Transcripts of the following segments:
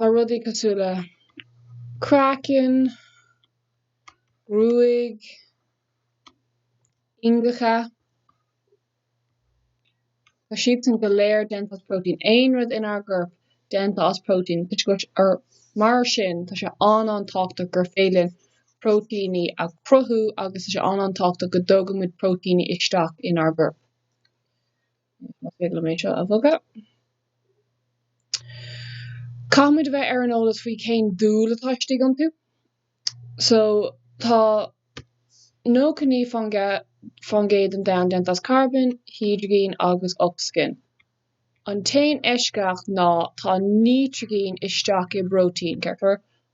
Tá rudaí cosúil le craiceann, gruaig, iongacha, tá siadsan go léir déanta as próitéin. Aon rud inár gcorp déanta as próitéin, toisc go, mar sin tá sé an-an-tábhachtach gur féidir linn próitéiní a chruthú agus tá sé an-an-tábhachtach go dtógann muid próitéiní isteach inár gcorp. Más féidir liom é seo a bhogadh. Caithfimid a bheith ar an eolas faoi cén dúil atá istigh iontu. So, tá 99% den domhan déanta as carbon, hídrigin agus ocsaigin. An t-aon eisceacht ná tá nítrigin istigh i bpróitéin, ceart go leor,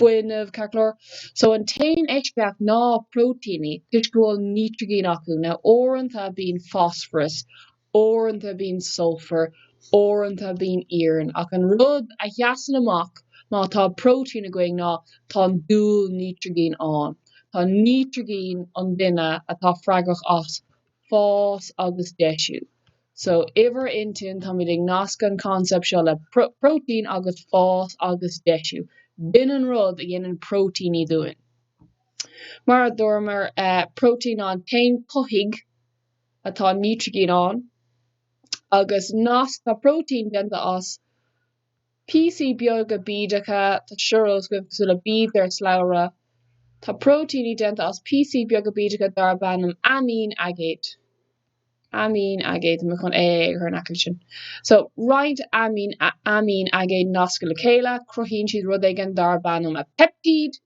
fuinneamh ceart go leor. So an t-aon eisceacht ná próitíní, toisc go bhfuil nítrigin acu. Now uaireanta bíonn fosfaras, uaireanta bíonn sulfar, uaireanta bíonn iarann, ach an rud a sheasann amach má tá próitín againn ná tá an dúil nítrigin ann. Tá nítrigin an duine atá freagrach as fás agus deisiú. So, i bhur intinn, táimid ag nascadh an concept seo le protein agus fás agus deisiú. B'in an rud a dhéanann proteíní dúinn. Mar a dúramar, protein ná an t-aon chothaitheach atá nitrigín ann, agus nasc, tá protein déanta as, Píosaí beaga bídeacha, tá siad saghas cosúil le bíd ar shlabhra. Tá próitíní déanta as píosaí beaga bídeacha darb ainm aimín aigéid. Aimín aigéid, mé chun AA a chur in aice leis sin. So, roinnt aimín, aimín aigéid nasctha le chéile, cruthaíonn siad rud éigin darb ainm a peptíd.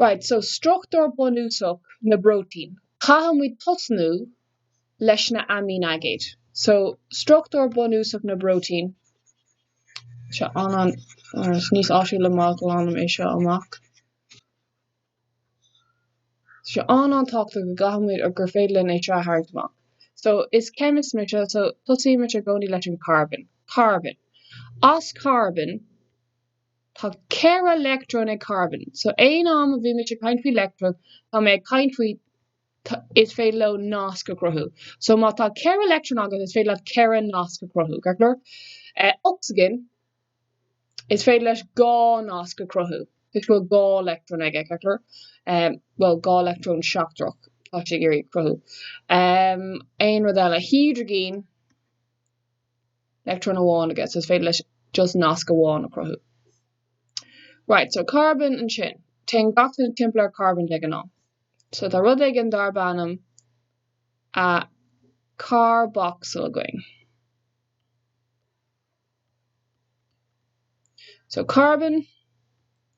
Right, so struchtúr bunúsach na bpróitín, caithfidh muid tosnú leis na aimín aigéid. So, struchtúr bunúsach na bpróitín, seo an ceann, or is níos áisiúla má ghlanann mé seo amach, seo an ceann tábhachtach go gcaithfidh muid or gur féidir linn é seo a tharraingt amach. So, is chemist mise, so tosaímse i gcónaí leis an carbon. Carbon. As carbon, Tá ceithre leictreon ag carbón, so aon am a bhím-se ag caint faoi leictreon, tá mé ag caint faoi, is féidir leo nasc a chruthú. So má tá ceithre leictreon agat, is féidir leat ceithre nasc a chruthú, ceart go leor? Ocsaigin, is féidir leis dhá nasc a chruthú, toisc go bhfuil dhá leictreon aige, ceart go leor? Bhuel, dhá leictreon seachtrach atá sé ag iarraidh a chruthú. Aon rud eile? Hidrigin. leictreon amháin aige so is féidir leis just nasc amháin a chruthú. Right so carbon ansin, téann gach duine timpeall ar carbon de ghnáth. So tá rud éigin darb ainm a carboxyl againn. So carbon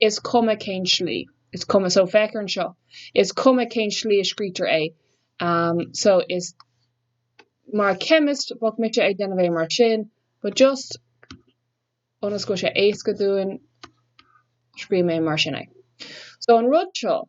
is cuma cén slí. is cuma. So, féach air anseo. is cuma cén slí a scríobhtar é. Um, so, is, mar chemist, bheadh mise ag déanamh é mar sin, but just, ionas go bhfuil sé éasca dúinn, scríobh mé mar sin é. So, an rud seo,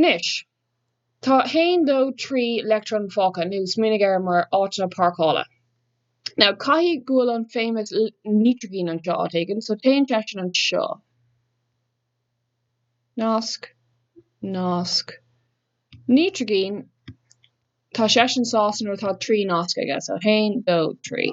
Anois, tá haon, dó, trí leictreon fágtha, nó smaoinigh air mar áiteanna páirceála. Now, caithfidh go bhfuil an famous nítrigin anseo, áit éigin, so téann seisean anseo. Nasc, nasc, nítrigin, tá seisean sásta nuair atá trí nasc aige, so haon, dó, trí.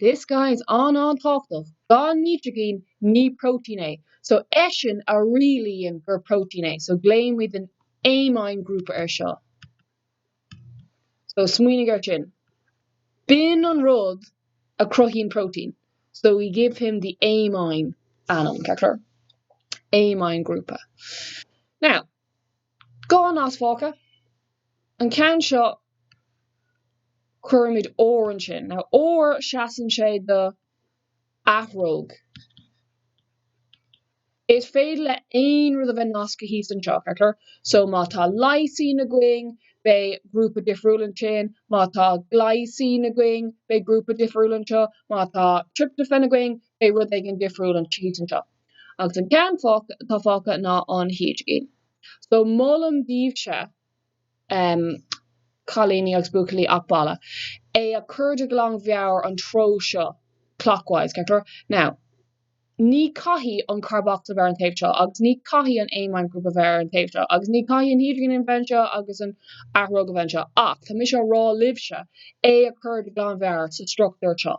This guy is an-tábhachtach, gan nítrigin ní protein é, so eisean a rialaíonn gur protein é, so glaoimid an amine group ar seo. So smaoinigh ar sin. B'in an rud a cruthaíonn protein, so we give him the amine ainm, ceart go leor? Amine grúpa. Now, Dhá nasc fágtha, an ceann seo cuirimid R ansin. Now R seasann sé do athróg. Is féidir le aon rud a bheith nasctha thíos anseo, ceart go leor. So má tá Lysine againn, beidh grúpa difriúil ansin, má tá Glycine againn, beidh grúpa difriúil anseo, má tá Tryptophan againn, beidh rud éigin difriúil thíos anseo. Agus an ceann atá fágtha ná an hídrigin. So molaim daoibhse, em, cailíní agus buachaillí ach b'fhearra, é a chur de ghlan mheabhair an treo seo, clockwise, ceart go leor? Now, ní chaithfidh an carbocsail bheith ar an taobh seo, agus ní chaithfidh an amine grúpa bheith ar an taobh seo, agus ní chaithfidh an hídrigin a bheith anseo agus an athróg a bheith anseo, ach tá mise ag rá libhse é a chur de ghlan mheabhair sa struchtúr seo.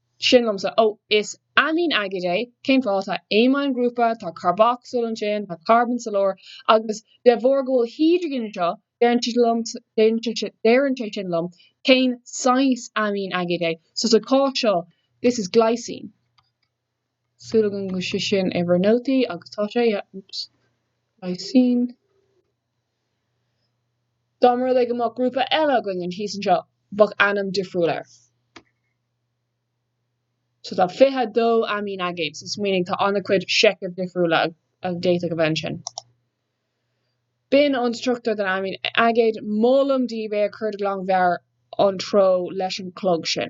sin liomsa. Ó, is aimín aigéid é. Cén fáth? Tá aimínghrúpa, tá carbocsail ansin, tá carbón sa lár, agus de bharr go bhfuil hidrigin anseo, deireann sé sin liom cén saghas aimín aigéid é. So sa cás seo, this is glycine. súil agam go bhfuil sé sin in bhur nótaí agus tá sé, oops, glycine. Dá mba rud é go mbeadh grúpa eile againn thíos anseo, bheadh ainm difriúil air. So tá 22 aimín aigéad, so smaoinigh, tá an-chuid seichimh difriúla a d'fhéadfadh a bheith ansin. B'in an struchtúr den aimín aigéad, molaim daoibh é a chur de ghlanmheabhair an treo leis an chlog sin.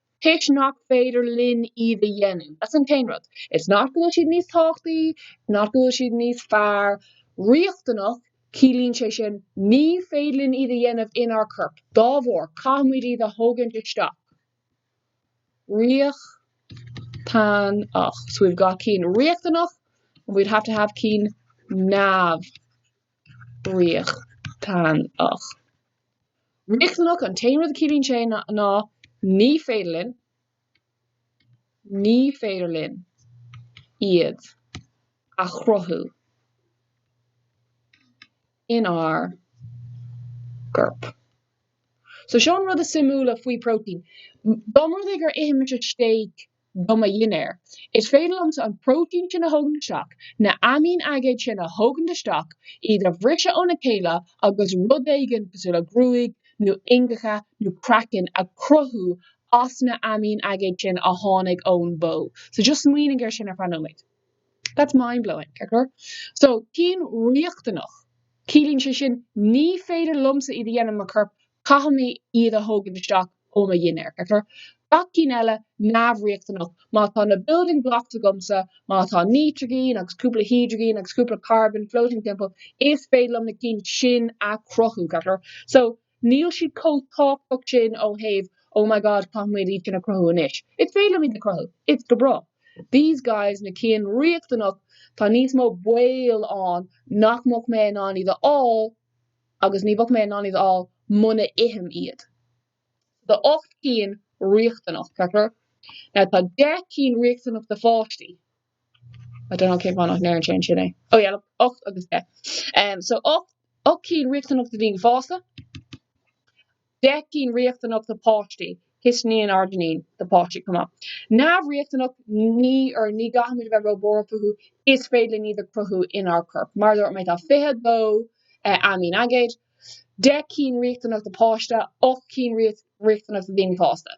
toisc nach féidir linn iad a dhéanamh. That's an t-aon rud. It's not go bhfuil siad níos tábhachtaí, it's not go bhfuil siad níos fearr, riachtanach, ciallaíonn sé sin ní féidir linn iad a dhéanamh inár gcorp, dá bharr, caithfimid iad a thógaint isteach. Riachtanach, so we've got cinn riachtanach and we'd have to have cinn neamh. riachtanach. Riachtanach, an t-aon rud a chiallaíonn sé ná ní féidir linn, ní féidir linn iad a chruthú inár gcorp. So seo an rud is suimiúla faoi protein. Dá mba rud é gur ithimid steak do mo dhinnéar. Is féidir liomsa an próitéin sin a thógaint isteach, na aimín-aigéid sin a thógaint isteach, iad a bhriseadh óna chéile agus rud éigin cosúil le gruaig nó iongacha nó craiceann a chruthú as na aimín-aigéid sin a tháinig ón bhó. So just smaoinigh ar sin ar feadh nóiméid. That's mind-blowing, ceart go leor. So, cinn riachtanach. Ciallaíonn sé sin, ní féidir liomsa iad a dhéanamh i mo chorp, caithfidh mé iad a thógaint isteach ó mo dhinnéar, ceart go leor. Na cinn eile, neamhriachtanach. Má tá na building blocks agamsa, má tá nítrigin agus cúpla hidrigin agus cúpla carbon floating timpeall, is féidir liom na cinn sin a chruthú, ceart go leor. So. Níl siad chomh tábhachtach sin ó thaobh oh my god caithfimid iad sin a chruthú anois, is féidir liom iad a chruthú, it's go breá. These guys, na cinn riachtanach, tá níos mó baol ann nach mbeadh mé in ann iad a fháil agus ní bheadh mé in ann iad a fháil muna n-ithim iad. So tá ocht gcinn riachtanach, ceart go leor? Now tá deich cinn riachtanach do pháistí. I don't know cén fáth nach ndeireann sé ansin é. Oh yeah, look, 8 agus 10. Um, so 8, 8 cinn riachtanach do daoine fásta, 10 cinn riachtanach do páistí, histidín, arginín do páistí chomh maith. Neamhriachtanach ní or ní gcaithfimid a bheith róbhuartha fúthu, is féidir linn iad a chruthú inár corp. Mar a dúirt mé, tá 22 uh, aimín aigéid, 10 cinn riachtanach do páiste, 8 cinn riachtanach do daoine fásta.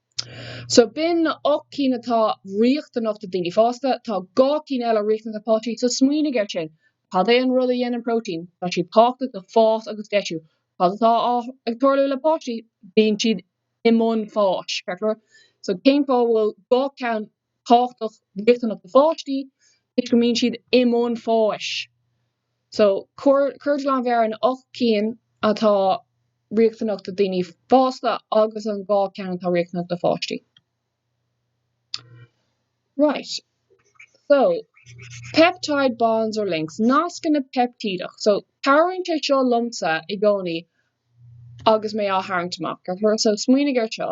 So b'in na 8 cinn atá riachtanach do daoine fásta. Tá 2 cinn eile riachtanach do páistí. So smaoinigh ar sin. Cad é an rud a dhéanann próitéin? Tá siad tábhachtach do fás agus deisiú. Cad atá ag tarlú le páistí? Bíonn siad i mbun fáis, ceart go leor? So cén fáth a bhfuil 2 ceann tábhachtach riachtanach do pháistí toisc go mbíonn siad i mbun fáis so cuir de ghlanmheabhair an ocht cinn atá riachtanach do daoine fásta agus an dhá cheann atá riachtanach do pháistí right so peptide bonds or links nascanna peiptídeach so cabhraíonn sé seo liomsa i gcónaí agus mé á tharraingt amach so smaoinigh ar seo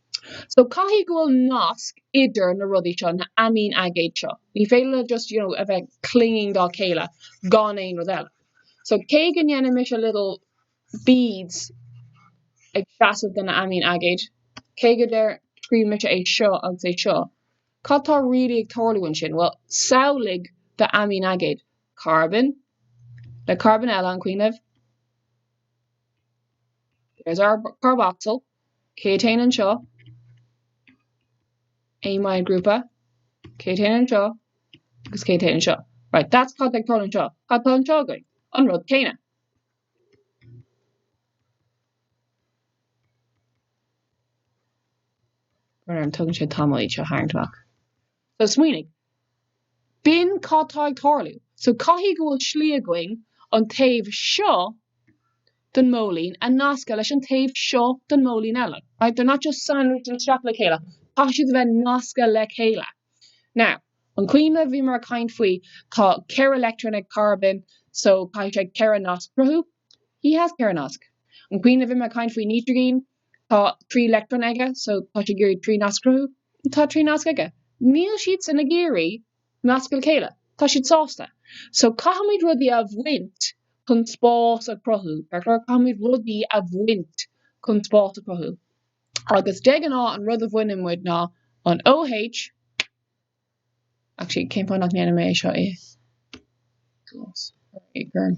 So caithfidh go bhfuil nasc idir na rudaí seo, na aimín-aigéid seo. Ní féidir leo just, you know, a bheith clinging dá chéile gan aon rud eile. So cé go ndéanann mise little beads ag seasamh do na aimín-aigéid, cé go ndeir, scríobh mise é seo agus é seo, cad tá really ag tarlú ansin? Bhuel, samhlaigh do aimín-aigéad, carbón le carbón eile, an cuimhin libh? There's our carboxyl. Cad a théann anseo? Amine grúpa? Cad a théann anseo? Agus cad a théann anseo? Right, that's cad tá ag tarlú anseo. Cad tá anseo againn? An rud céanna. Mar tógann sé tamall iad seo tharraingt amach. So smaoinigh. B'in cad tá ag tarlú. So caithfidh go bhfuil slí againn an taobh seo den mhóilín a nascadh leis an taobh seo den mhóilín eile, right? They're not just sandwiched isteach le chéile, caithfidh siad a bheith nasctha le chéile. Now, an cuimhin libh bhíomar ag caint faoi, tá ceithre leictreon ag carbón, so caithfidh sé ceithre nasc cruthú. He has ceithre nasc. An cuimhin libh bhíomar ag caint faoi nítrigin, Tá trí leictreon aige, so tá sé ag iarraidh trí nasc a chruthú. Tá trí nasc aige. Níl siadsan ag iarraidh nascadh le chéile. Tá siad sásta. So caithfimid rudaí a bhaint chun spás a chruthú. Ceart go leor caithfimid rudaí a bhaint chun spás a chruthú. Agus de ghnáth an rud a bhaineann muid ná an OH, actually cén fáth nach ndéanann mé é seo i glas, or i gorm.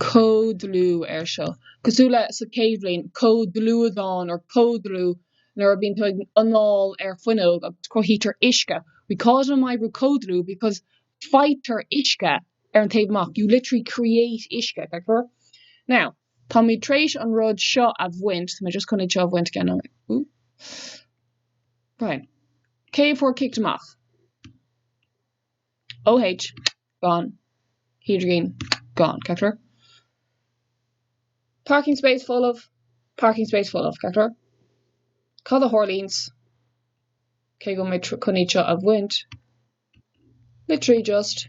comhdhlúthú air seo, cosúil le sa chéad bhliain, comhdhlúthán or comhdhlúthú nuair a bhíonn tú ag anáil ar fuinneog agus cruthaítear uisce, we call it imoibriú comhdhlúthú because faightear uisce ar an taobh amach, you literally create uisce, ceart go leor? Now. Táimid tar éis an rud seo a bhaint, cé fuair kicked amach? OH, gone, hidrigin, gone, ceachtar? Parking space folamh, ceachtar? Cad a tharlaíonns, cé go mbeidh chun iad seo a bhaint, literally just.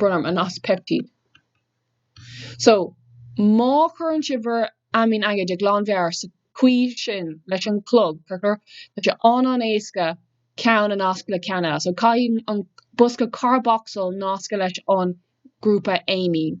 brón orm, an nasc peiptíde. So, má chuireann sibh bhur aimín aigéid de ghlanmheabhair sa chaoi sin leis an chlog corcra, tá sé an an éasca ceann a nasc le ceann eile. So, caithfidh an bosca carbocsail nascadh leis an grúpa aimín.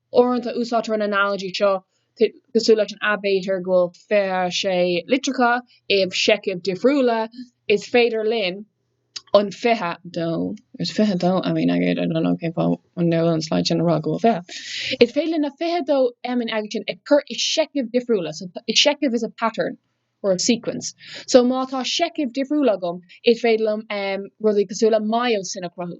Uaireanta úsáidtear an analogy seo cosúil leis an aibítir, go bhfuil 26 litreacha i seichimh difriúla, is féidir linn an 22, there's 22 aimín aigéid, I don't know cén fáth a ndeireann an slide sin a rá go bhfuil 20, is féidir linn na 22 aimín aigéid sin a chur i seichimh difriúla, so seicheamh is a pattern or a sequence, so má tá seichimh difriúla agam is féidir liom rudaí cosúil le myosin a chruthú.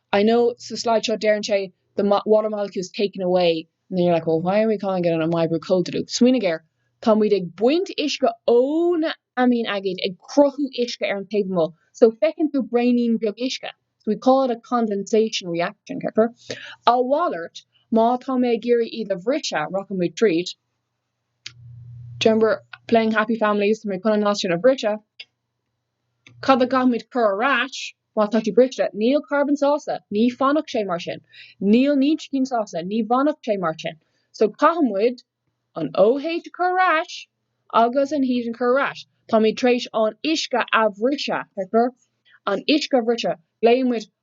I know, sa slide seo deireann sé the water molecule is taken away and then you're like well why are we calling it an imoibriú comhdhlúthú? Smaoinigh air, táimid ag baint uisce ó na aimín aigéid ag cruthú uisce ar an taobh amuigh, so feiceann tú braoinín beag uisce, so we call it a condensation reaction, ceapfar. A mhalairt, má tá mé ag iarraidh iad a bhriseadh, rachaimid tríd, do you remember playing happy families, tá mé chun an nasc sin a bhriseadh, Cad a gcaithfimid cur ar ais má tá sé briste? Níl carbon sásta, ní fanfadh sé mar sin. Níl nítrigin sásta, ní fanfadh sé mar sin. So caithfidh muid an OH a chur ar ais agus an H a chur ar ais. Táimid tar éis an uisce a bhriseadh, feictear? An uisce a bhriseadh. Glaofaidh muid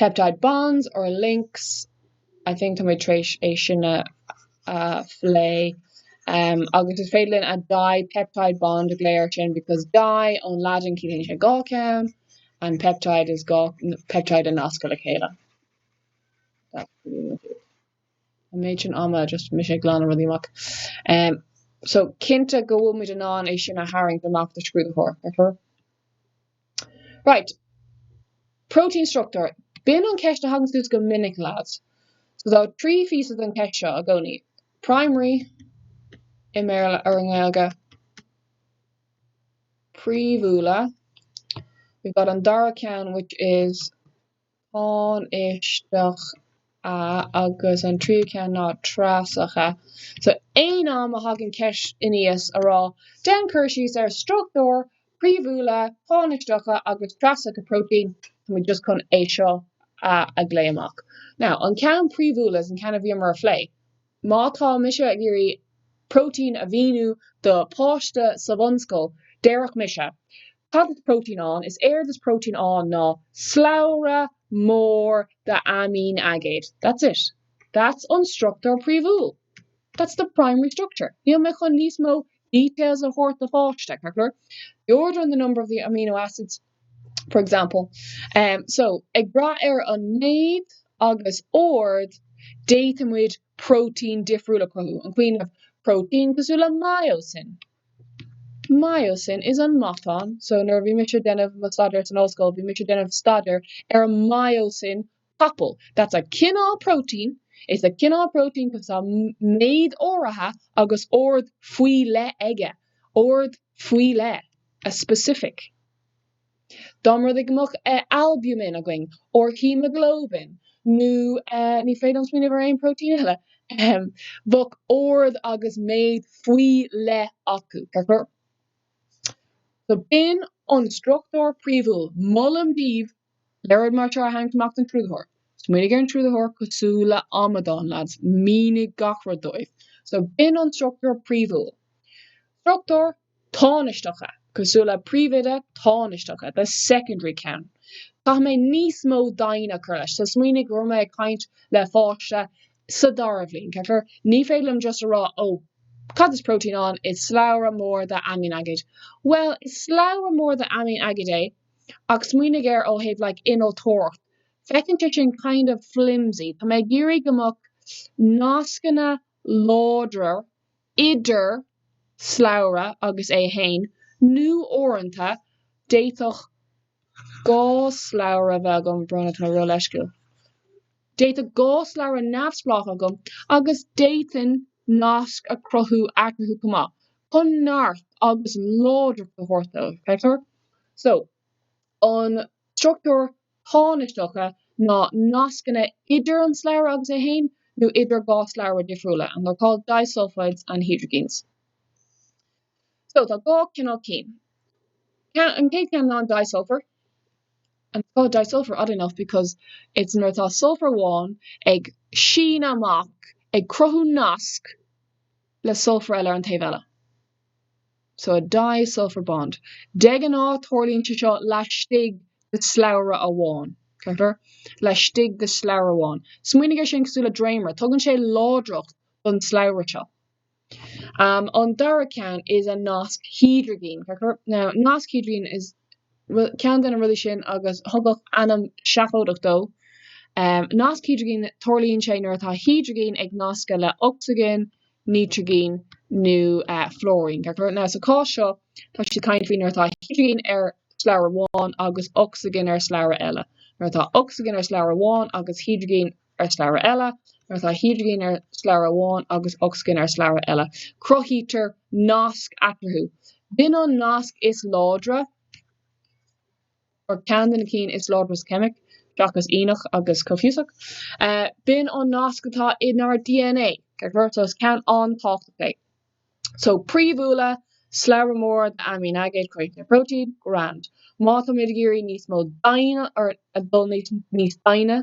peptide bonds or links, I think tá muid tar éis é sin a phlé, agus is féidir linn a dipeptide bond a ghlao ar sin because di ón Laidin ciallaíonn sé dhá ceann and peptide is dhá peptide a nascadh le chéile. An méid sin ama just mise ag glanadh rudaí amach. Um, so cinnte go bhfuil muid in ann é sin a tharraingt amach do scrúdaitheoir, ar Right. Protein structure. B'in an cheist a thagann suas go minic lads. So tá trí phíosa den cheist seo i gcónaí. Primary i mBéarla or i nGaeilge. Príomhúla. We've got an dara ceann which is tánaisteacha agus an tríú ceann ná treasacha. So aon am a thagann ceist aníos a rá, déan cur síos ar struchtúir phríomhúla tánaisteacha agus treasacha próitéin, tá muid just chun é seo a a ghlao amach. Now an ceann príomhúla is an ceann a bhíomar a phlé, Má tá mise ag iarraidh protein a mhíniú do páiste sa bhunscoil, déarfainn mise, Cad is protein ann? Is éard is protein ann ná slabhra mór d'aimínaigéid. That's it. That's an struchtúr príomhúil. That's the primary structure. Níl mé chun níos mó details a thabhairt do pháiste, the order and the number of the amino acids, for example. So, ag brath ar an méid agus ord, d'fhéadfaimis protein difriúil a chruthú, an cuimhin libh protein cosúil le myosin. Myosin is an matán, so nuair a bhí mise déanamh mo staidéar san ollscoil, bhí mise déanamh staidéar ar an myosin capall, that's a cineál protein, is a cineál protein because tá méid áirithe agus ord faoi leith aige, ord faoi leith, a specific. Dá mba rud é go mbeadh albumin againn, nó haemoglobin, nó ní féidir liom smaoineamh ar aon protein eile, ahem, bheadh ord agus méid faoi leith acu, ceapair? So b'in an struchtúr príomhúil. Molaim daoibh léaráid mar seo a tharraingt amach don scrúdaitheoir. Smaoinigh ar an scrúdaitheoir cosúil le amadán leads, mínigh gach rud dóibh. So, b'in an struchtúr príomhúil. Struchtúir tánaisteacha, cosúil le príomhoide tánaisteacha, the secondary ceann. Caithfidh mé níos mó doimhne a chur leis. So, smaoinigh go raibh mé ag caint le pháiste sa dara bhliain, ceapair? Ní féidir liom just a rá, oh, cad is protein ann? Is slabhra mór d'aimínaigéid. Bhuel, is slabhra mór d'aimínaigéid é. ach smaoinigh air ó thaobh like innealtóireacht, féachann sé sin kind of flimsy. Tá mé ag iarraidh go mbeadh nascanna láidre idir slabhra agus é fhéin, nó uaireanta d'fhéadfadh dhá shlabhra a bheith agam, brón orm, tá mé róleisciúil. D'fhéadfadh dhá shlabhra neamhspleách agam agus d'fhéadfainn nasc a chruthú eatarthu chomh maith, chun neart agus láidreacht a thabhairt dóibh, feictear. So, an struchtúr tánaisteacha ná nascanna idir an slabhra agus é fhéin, nó idir dhá shlabhra difriúla, and they're called disulfides and hydrogens. So tá dhá chineál cinn. An chéad cheann ná an disulfur. And it's called disulfur oddly enough because it's nuair atá sulfar amháin ag síneadh amach ag cruthú nasc le sulfar eile ar an taobh eile. So a disulfur bond. De ghnáth tarlaíonn sé seo laistigh de slabhra amháin. Ceaptar? Laistigh de slabhra amháin. Smaoinigh ar sin cosúil le dréimire. Tugann sé láidreacht don slabhra seo. An dara ceann is ea nasc hidrigine, ceart go leor. Now nasc hidrigine is ceann de na rudaí sin agus tugadh ainm seafóideach dó. Nasc hidrigine, tarlaíonn sé nuair atá hidrigin ag nascadh le ocsaigin, nítrigine nó fluairín, ceart go leor. Now sa chás seo tá siad ag caint faoi nuair atá hidrigin ar slabhra amháin agus ocsaigin ar slabhra eile. Nuair atá ocsaigin ar slabhra amháin agus hidrigin ar shlabhra eile, nuair atá hidrigin ar shlabhra amháin agus ocsaigin ar shlabhra eile, cruthaítear nasc eatarthu. B'in an nasc is láidre, or ceann de na cinn is láidre sa cheimic, seachas ianach agus comhfhiúsach. B'in an nasc atá inár dna, mar shampla, so is ceann an-tábhachtach é. So, príomhúla, slabhra móra d'aimíonaigéid, ag cruthú próitéin, grand. Má táimid ag iarraidh níos mó doimhne, or ag dul níos doimhne,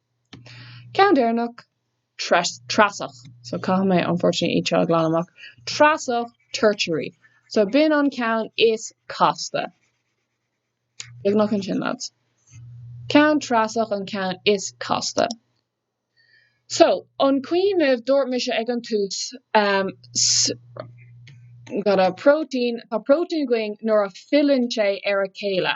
Ceann deireanach, treasach. So caithfidh mé unfortunately iad seo a ghlanadh amach. Treasach tertiary. So b'in an ceann is casta. Beagnach ansin lads. Ceann treasach an ceann is casta. So an cuimhin libh dúirt mise ag an tús ehm s, got a protein, protein againn nuair a filleann sé ar a chéile.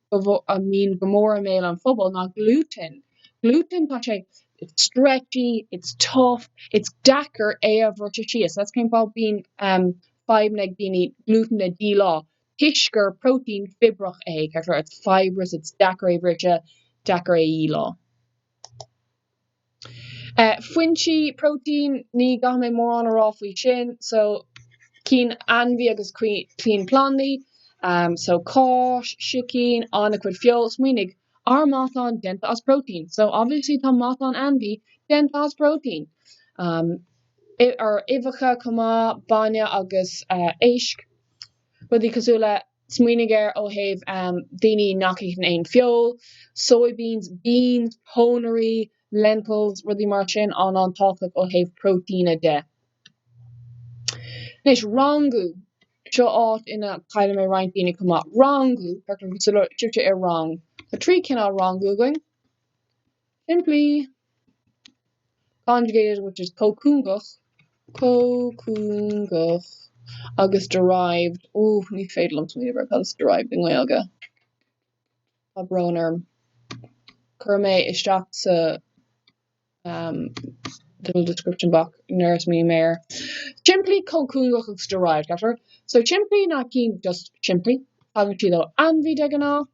a mbíonn go mór i mbéal an phobail ná glútan. Glútan, tá sé it's stretchy, it's tough, it's deacair é a bhriseadh síos. That's cén fáth bíonn fadhbanna ag daoine glútan a dhíleá, toisc gur protein fibrach é, it's fibrous, it's deacair é a bhriseadh, deacair é a dhíleá. Foinsí próitéin, ní chaithfidh mé mórán a rá faoi sin, so cinn ainmhí agus cinn plandaí, so cáis, sicín, an-chuid feoil. Smaoinigh, ár matán déanta as próitéin, so obviously tá matán ainmhí déanta as próitéin. Or uibheacha chomh maith, bainne agus éisc, rudaí cosúil le. Smaoinigh air ó thaobh daoine nach itheann aon feoil, soybeans, beans, pónairí, lentils, rudaí mar sin, an an tábhachtach ó thaobh próitéine de. Anois, rangú. Seo áit ina gcailleann mé roinnt daoine chomh maith. Rangú, cuirtear sibhse i rang. Tá trí chineál rangú againn. Simplí, conjugated, which is comhchuingeach, comhchuingeach, agus derived, ó, ní féidir liom smaoineamh ar cad is derived i nGaeilge. Tá brón orm. Cuirfidh mé isteach sa little description box nuair a smaoiním air. Simplí, comhchuingeach agus derived, ceart go leor? So simplí, not caoin, just simplí. Tagann siad ó ainmhí de ghnáth.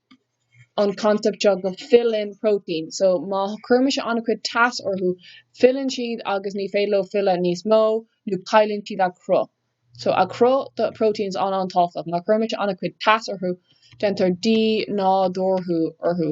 an concept seo go filleann protein so má chuirimis an-chuid teas orthu filleann siad agus ní féidir leo filleadh níos mó nó cailleann siad a chruth so cruth do proteins an-an-tábhachtach má chuirimis an-chuid teas orthu déantar dínádúrú orthu.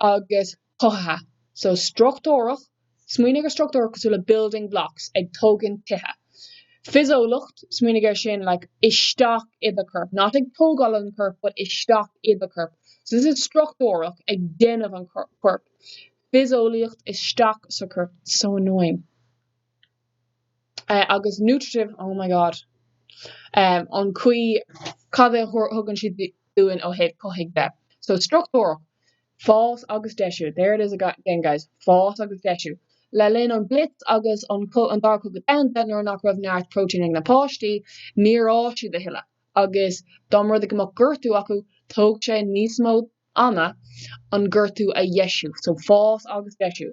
agus cothaithe. So struchtúrach, smaoinigh ar struchtúr cosúil le building blocks, ag tógaint tithe. Fiseolacht, smaoinigh ar sin like isteach i do corp, not ag tógáil an corp but isteach i do corp. So this is struchtúrach, ag déanamh an corp. Fiseolaíocht isteach sa chorp, so annoying. agus nutritive, oh my god! an chaoi cad é a thugann siad dúinn ó thaobh cothaithe de. So struchtúrach, fás agus deisiú, there it is again guys, fás agus deisiú. Le linn an blitz agus an Dara Cogadh Domhan, nuair nach raibh neart protein ag na páistí, níor fhás siad a thuilleadh, agus dá mba rud é go mbeadh gortú acu, thóg sé níos mó ama an gortú a dheisiú. So fás agus deisiú.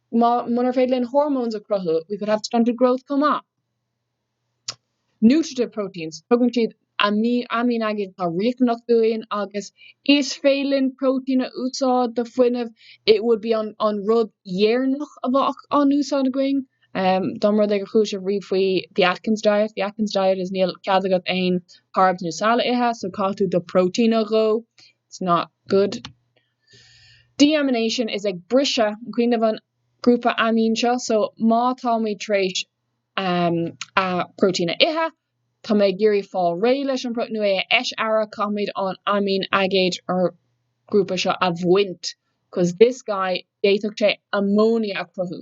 Munar féidir linn hormones a chruthú, we could have stunted growth chomh maith. Nutritive proteins, tugann siad aimín aigéid atá riachtanach dúinn agus is féidir linn protein a úsáid do fuinneamh, it would be an rud dheireanach a bheadh á úsáid againn. Dá mba rud é gur chuala sibh riamh faoi the Atkins diet, the Atkins diet is níl cead agat aon carbs nó saill a ithe, so caithfidh tú do protein a dhó, it's not good. Deamination is ag briseadh cuimhnigh an grúpa aimín seo, so má táimid tar éis a protein a ithe, táimid ag iarraidh fáil réidh leis an protein nó é a eisfhearadh, caithfimid an aimín aigéad or grúpa seo a bhaint, cause this guy d'fhéadfadh sé ammonia a cruthú.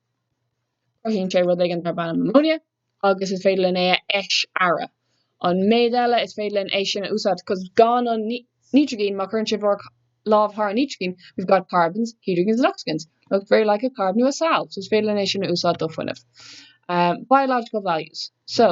Cruthaíonn sé rud éigin darb ainm ammonia agus is féidir linn é a eisfhearadh. An méid eile is féidir linn é sin a úsáid, cos gan an nítrigin, má chuireann sibh bhur lámh thar an nítrigin, we've got carbons, hydrogens and oxygens, looks very like a carb nó a saill, so is féidir linn é sin a úsáid do fuinneamh. Biological values, so.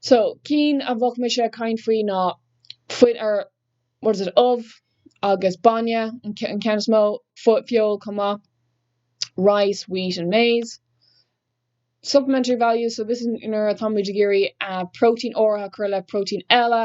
So, cinn a bheadh mise ag caint faoi ná fuit, er, what is it, ubh agus bainne an ceann is mó, feoil chomh maith, rice, wheat and maize. Supplementary values, so this is nuair atáimid ag iarraidh protein áirithe a chur le protein eile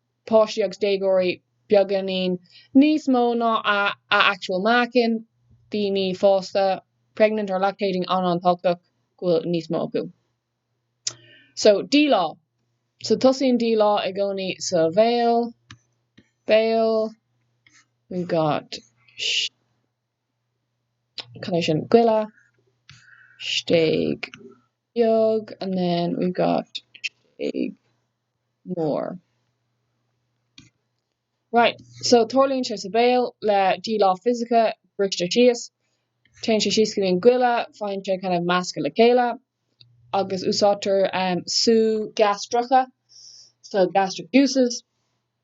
páistí agus déagóirí beagáinín níos mó ná a a actual meáchan, daoine fásta pregnant or lactating an-, an-tábhachtach go bhfuil níos mó acu. So díleá. So tosaíonn díleá i gcónaí sa bhéal, béal, we've got cad é sin? goile, stéig. beag and then we've got stéig mór right so tarlaíonn sé sa bhéal le díleá fisiceach briste síos téann sé síos go dtí an goile faigheann sé kind of measctha le chéile agus úsáidtear sú gastracha so gastric juices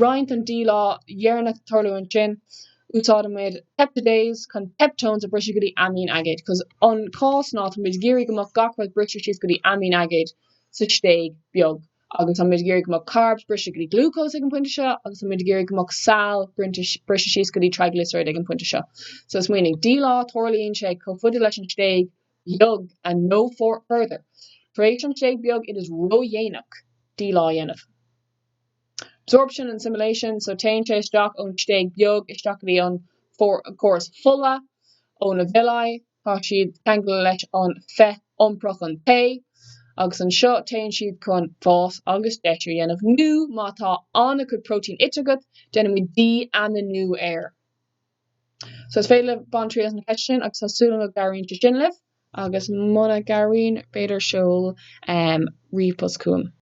roinnt an díleá dheireanach tarlú ansin. Úsáidimid peptidase chun peptones a bhriseadh go dtí aimín aigéid, cos. an cás ná tá muid ag iarraidh go mbeadh gach rud briste síos go dtí aimín aigéid sa stéig bheag agus tá muid ag iarraidh go mbeadh carbs briste go dtí glúcós ag an pointe seo agus tá muid ag iarraidh go mbeadh saill briste síos go dtí triglyceride ag an pointe seo. So smaoinigh, díleá, tarlaíonn sé chomh faide leis an stéig bheag and no further. Tar éis an stéig bheag it is ró-dhéanach díleá a dhéanamh. Absorption and assimilation, so téann sé isteach ón stéig bheag isteach go dtí an córas fola, ó na villi, tá siad ceangailte leis an féith iompair, an t-ae, agus anseo téann siad chun fás agus deisiú a dhéanamh nó má tá an-chuid protein ite agat, déanaimid dí-aminú air. So is féidir libh baint triail as na ceisteanna sin agus tá súil agam go gcabhraíonn sé sin libh agus muna gcabhraíonn, b'fhéidir seol ríomhpost chugam.